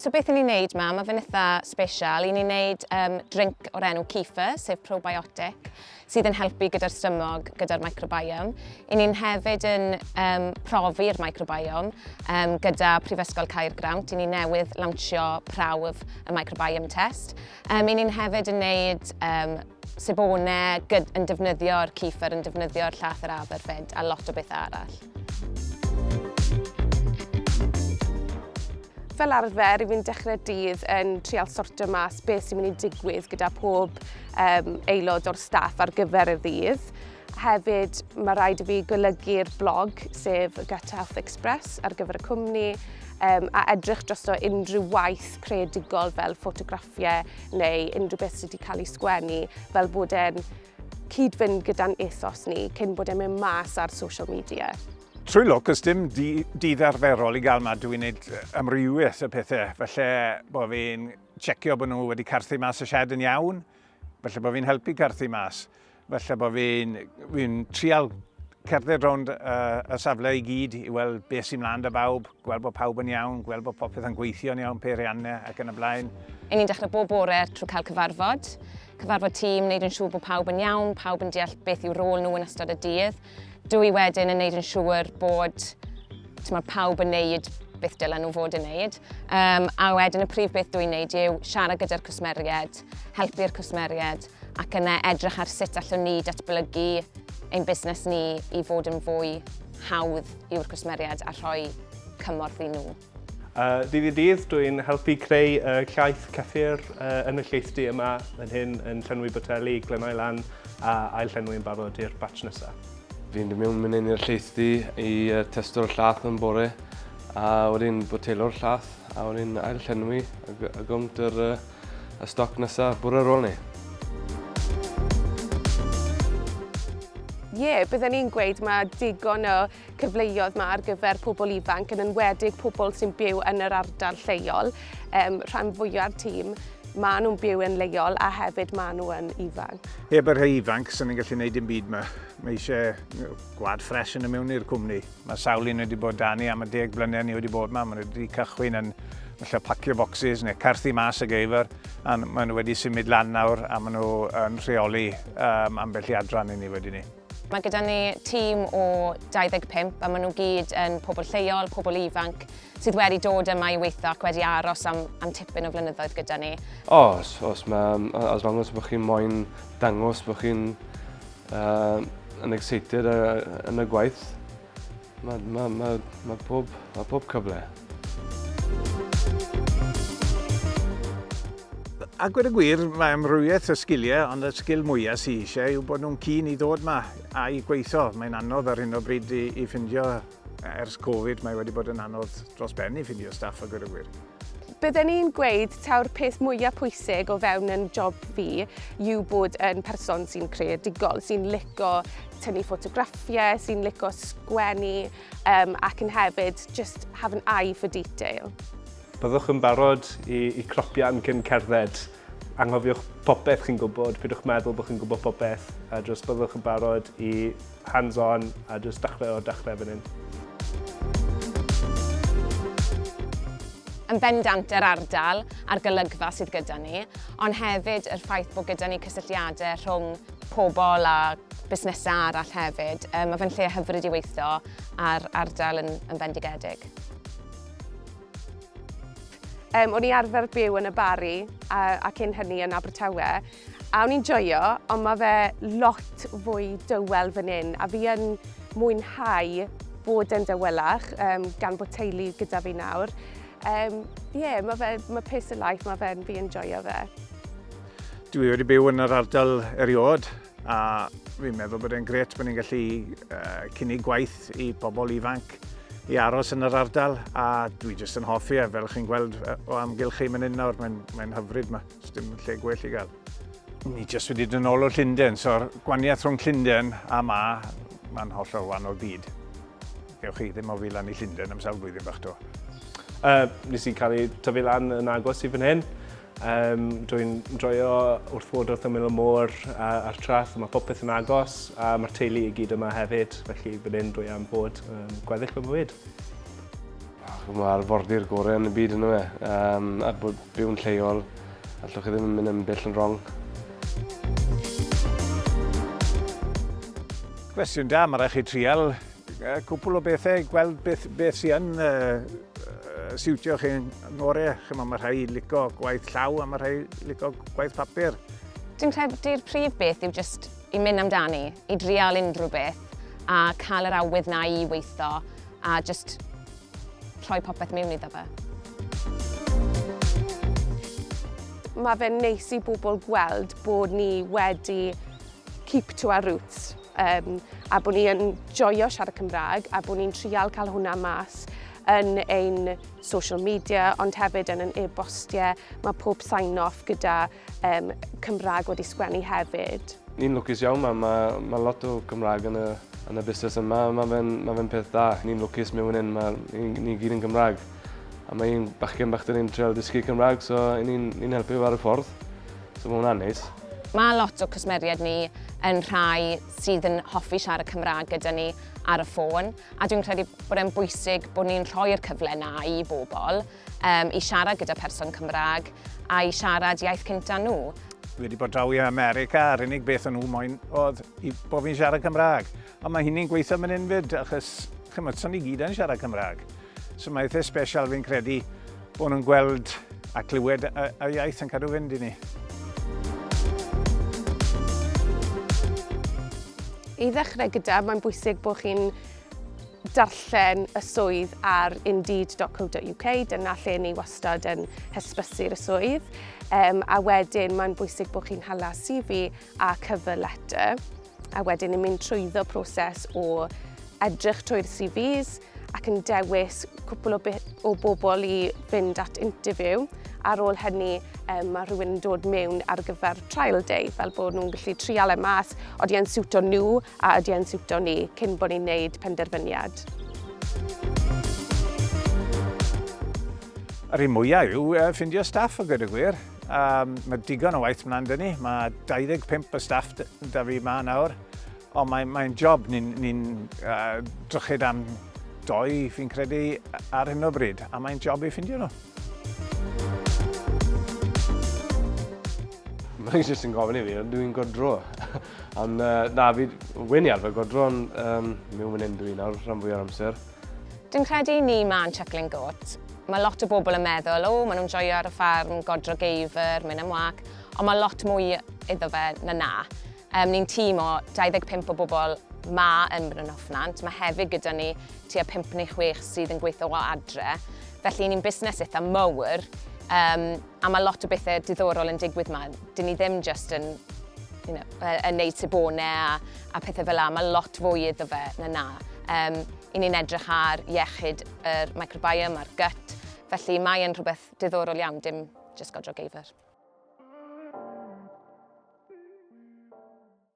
So beth i ni'n neud ma? Mae fe'n eitha special. I ni'n neud um, drink o'r enw Kifa, sef probiotic. sydd yn helpu gyda'r strymog, gyda'r microbiome. I ni'n hefyd yn um, profi'r microbiome um, gyda Prifysgol Caergrawnt. I ni newydd lawnsio prawf y microbiome test. Um, I ni'n hefyd yn neud um, sebonau yn defnyddio'r cifr, yn defnyddio'r llath yr aberfyd a lot o bethau arall. Fel arfer, rwy'n dechrau dydd yn trial sortio mas beth sy'n mynd i digwydd gyda pob um, aelod o'r staff ar gyfer y ddydd. Hefyd, mae rhaid i fi golygu'r blog, sef y Gut Health Express, ar gyfer y cwmni, um, a edrych dros o unrhyw waith creadigol fel ffotograffiau neu unrhyw beth sydd wedi cael ei sgwennu, fel bod e'n cyd-fynd gyda'n ethos ni cyn bod e'n mynd mas ar social media. Trwy lwc, os dim dydd arferol i gael ma, dwi'n neud amrywiaeth y pethau. Felly bod fi'n checio bod nhw wedi carthu mas y shed yn iawn, felly bod fi'n helpu carthu mas, felly bod fi'n fi trial cerdded rownd uh, y safle i gyd i weld beth sy'n mlaen da bawb, Gweld bod pawb yn iawn, gweld bod popeth yn gweithio yn iawn, peiriannau ac yn y blaen. Yn ni'n dechrau bob bore trwy cael cyfarfod, cyfarfod tîm, wneud yn siŵr bod pawb yn iawn, pawb yn deall beth yw rôl nhw yn ystod y dydd. Dw i wedyn yn wneud yn siŵr bod tyma, pawb yn wneud beth dylen nhw fod yn wneud. Um, a wedyn y prif beth dw i'n wneud yw siarad gyda'r cwsmeriaid, helpu'r cwsmeriaid, ac yna edrych ar sut allwn ni datblygu ein busnes ni i fod yn fwy hawdd yw'r cwsmeriaid a rhoi cymorth i nhw. Uh, dydd i dydd, dwi'n helpu creu uh, llaeth cyffur uh, yn y lleithdy yma, yn hyn yn llenwi boteli, glenau lan a ail llenwi yn barod i'r batch nesaf. Fi'n dod mewn mynd i'r lleithdy i uh, testo'r llaeth yn bore a wedyn botelo'r llaeth a wedyn ail llenwi a, a gawnt yr uh, y stoc nesa bwrw ar ôl ni. Ie, bydden ni'n gweud mae digon o cyfleoedd mae ar gyfer pobl ifanc, yn enwedig pobl sy'n byw yn yr ardal lleol. Um, rhan fwyaf tîm, maen nhw'n byw yn leol a hefyd maen nhw yn ifanc. Heb yr rhai ifanc, sy'n ni'n gallu gwneud dim byd yma. Mae eisiau gwad ffres yn y mewn i'r cwmni. Mae sawl un wedi bod 'da ni am y deg blynedd ni wedi bod 'ma. Maen nhw wedi cychwyn yn falle pacio bocsys neu carthu mas y geifr, a maen nhw wedi symud lan nawr a maen nhw yn rheoli um, ambell i adran i ni wedi ni. Mae gyda ni tîm o 25 a maen nhw gyd yn pobl lleol, pobl ifanc sydd wedi dod yma i weithio ac wedi aros am, am tipyn o flynyddoedd gyda ni. Os, os, mae, as long as bod chi'n moyn dangos bod chi'n Uh, yn excited yn y gwaith. Mae ma, ma, ma pob, ma pob cyfle. A gwir y gwir, mae amrywiaeth o sgiliau, ond y sgil mwyaf sy'n eisiau yw bod nhw'n cyn i ddod yma a'i gweithio. Mae'n anodd ar hyn o bryd i, i ffindio Ers Covid mae wedi bod yn anodd dros ben i ffindio staff a gweud gwir. Bydden i'n gweud taw'r peth mwyaf pwysig o fewn yn job fi yw bod yn person sy'n creadigol, sy'n lico tynnu ffotograffiau, sy'n lico sgwennu um, ac yn hefyd just have an eye for detail. Byddwch yn barod i, i cropio'n cyn cerdded. Anghofiwch popeth chi'n gwybod, pidwch meddwl bod chi'n gwybod popeth, a jyst byddwch yn barod i hands on a jyst dachrau o'r dachrau fan hyn. Yn bendant yr ardal a'r golygfa sydd gyda ni, ond hefyd yr ffaith bod gyda ni cysylltiadau rhwng pobl a busnesau arall hefyd. Mae fe'n lle hyfryd i weithio a'r ardal yn, yn fendigedig. Um, o'n i arfer byw yn y Bari a, a cyn hynny yn Abertawe, a o'n i'n joio, ond mae fe lot fwy dywel fan hyn, a fi yn mwynhau bod yn dywelach, um, gan bod teulu gyda fi nawr. Um, yeah, mae fe, mae pace of life, mae fe'n fi yn joio fe. Dwi wedi byw yn yr ardal eriod, a fi'n meddwl bod e'n gret bod ni'n gallu uh, cynnig gwaith i bobl ifanc Ffrainc i aros yn yr ardal a dwi jyst yn hoffi e, fel chi'n gweld o amgylch chi mynd hyn nawr, mae'n mae hyfryd yma, dim lle gwell i gael. Ni jyst wedi dyn ôl o Llundain, so'r gwaniaeth rhwng Llundain a ma, mae'n hollol wahanol byd. Gewch chi ddim o fi lan i Llundain am sawl blwyddyn bach to. Uh, nes i cael ei tyfu lan yn agos i fan hyn. Yym, dw i'n joio wrth fod wrth ymyl y môr a, a'r traeth, a mae popeth yn agos, a mae'r teulu i gyd yma hefyd, felly fan hyn dw i am bod yn gweddill fy mywyd. Mae arfordir gorau yn y byd yn dyw e? Yym, a bod byw'n lleol, allwch chi ddim mynd yn bell yn rong. Cwestiwn da, mae'n rhaid chi trial Cwpl o bethau, gweld beth, beth sy'n yn uh, siwtio chi'n ngore. Chyma, mae rhai lico gwaith llaw a mae rhai lico gwaith papur. Dwi'n credu'r prif beth yw just i mynd amdani, i drial unrhyw beth a cael yr awydd na i weithio a just rhoi popeth mewn iddo fe. Mae fe'n neis i bobl gweld bod ni wedi keep to our roots. Um, a bod ni yn joio siarad Cymraeg a bod ni'n trial cael hwnna mas yn ein social media ond hefyd yn yn e-bostiau. Mae pob sign-off gyda um, Cymraeg wedi sgwennu hefyd. Ni'n lwcus iawn, mae, mae, mae lot o Gymraeg yn y, yn y busnes yma. Mae fe'n ma fe peth da, ni'n lwcus mewn un, mae, ni, ni gyd yn Gymraeg. A mae un bachgen bach dyn ni'n treol dysgu Cymraeg, so ni'n ni helpu ar y ffordd. So mae hwnna'n neis. Mae lot o cwsmeriaid ni yn rhai sydd yn hoffi siarad Cymraeg gyda ni ar y ffôn a dwi'n credu bod e'n bwysig bod ni'n rhoi'r cyfle na i bobl um, i siarad gyda person Cymraeg a i siarad iaith cynta nhw. Dwi wedi bod draw i America a'r unig beth o'n nhw moyn oedd i bod fi'n siarad Cymraeg. Ond mae hynny'n gweithio fan hyn fyd, achos chymod, son ni gyd yn siarad Cymraeg. So mae eitha special fi'n credu bod nhw'n gweld a clywed y, y iaith yn cadw fynd i ni. I ddechrau gyda, mae'n bwysig bod chi'n darllen y swydd ar indeed.co.uk, dyna lle ni wastad yn hysbysu'r swydd, um, a wedyn mae'n bwysig bod chi'n hala CV a cover letter. a wedyn yn mynd trwyddo proses o edrych trwy'r CVs ac yn dewis cwpl o, o bobl i fynd at interview. Ar ôl hynny, um, mae rhywun yn dod mewn ar gyfer trial day, fel bod nhw'n gallu trial e mas, oeddi e'n siwto nhw a oeddi e'n siwto ni, cyn bod ni'n neud penderfyniad. Yr un mwyaf yw uh, ffindio staff o gyda gwir. Um, mae digon o waith mlaen dyn ni. Mae 25 o staff da fi ma nawr. Ond mae'n mae job ni'n ni, uh, drychyd am doi, fi'n credu, ar hyn o bryd. A mae'n job i ffindio nhw. Mae'n jyst yn gofyn i fi, dwi'n godro. ond uh, na, fi, wyn i arfer godro, ond um, mi'n mynd dwi'n nawr rhan fwy o'r amser. Dwi'n credu i ni ma'n chuckling goat. Mae lot o bobl yn meddwl, o, maen nhw'n joio ar y ffarm, godro geifr, mynd am wac, ond mae lot mwy iddo fe na na. Um, ni'n tîm o 25 o bobl ma yn Bryn Hofnant, mae hefyd gyda ni tua 5 neu 6 sydd yn gweithio o adre, felly ni'n busnes eitha mawr, um, A mae lot o bethau diddorol yn digwydd yma. Dyn ni ddim just yn you know, yn neud sebonau a, a pethau fel la. Mae lot fwy iddo fe na na. Um, I ni'n edrych ar iechyd yr er microbiome a'r gut, felly mae'n rhywbeth diddorol iawn, dim just godro geifr.